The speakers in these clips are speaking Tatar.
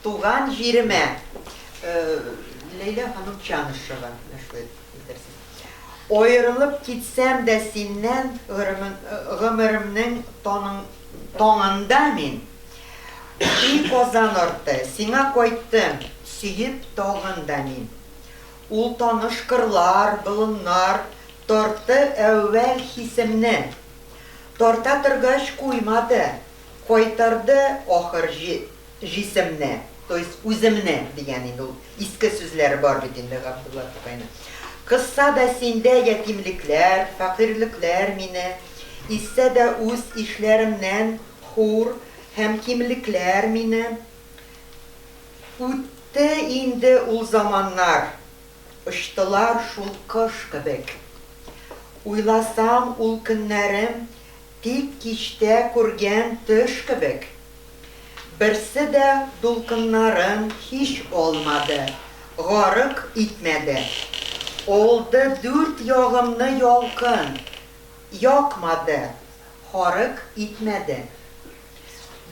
Туган җиремә. Ләйлә ханым Чанышева. Аерылып китсәм дә синнән Гомеремнең таңында мин И Казан арты, сиңа кайттым Сөеп тагын да мин. Ул таныш кырлар, болыннар Тартты әүвәл хисемне. Тарта торгач куймады, Кайтарды ахыр Җисемне, то есть үземне, дигән инде ул. Иске сүзләре бар бит инде Габдулла Тукайның. Кызса да синдә ятимлекләр, фәкыйрьлекләр мине изсә дә үз ишләремнән хур һәм кимлекләр мине Үтте инде ул заманнар, очтылар шул кош кебек Уйласам ул көннәрем тик кичтә күргән төш кебек. Берсе дә дулкыннарын һич алмады, гарык итмәде. Алды дүрт ягымны ялкын, якмады, харык итмәде.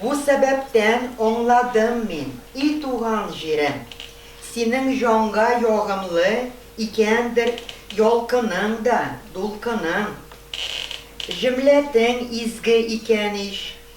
Бу сәбәптән аңладым мин, и туган җирем, синең җанга ягымлы икәндер ялкының да, дулкының. Җөмләтең изге икән ич.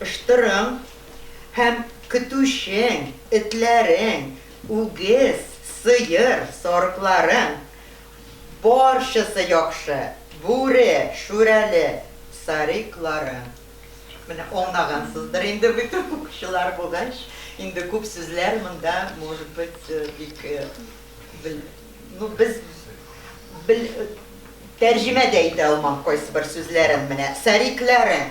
Ыштырың һәм көтүчең, этләрең, үгез, сыер, сарыкларың, барчасы яхшы, бүре, шүрәле, сарикларың. Менә аңлагансыздыр инде бит, укучылар булгач, инде күп сүзләр монда, может быть, бик бел, ну, без бел, тәрҗемә дә итә алмам кайсыбер сүзләрен, менә, сарикларың.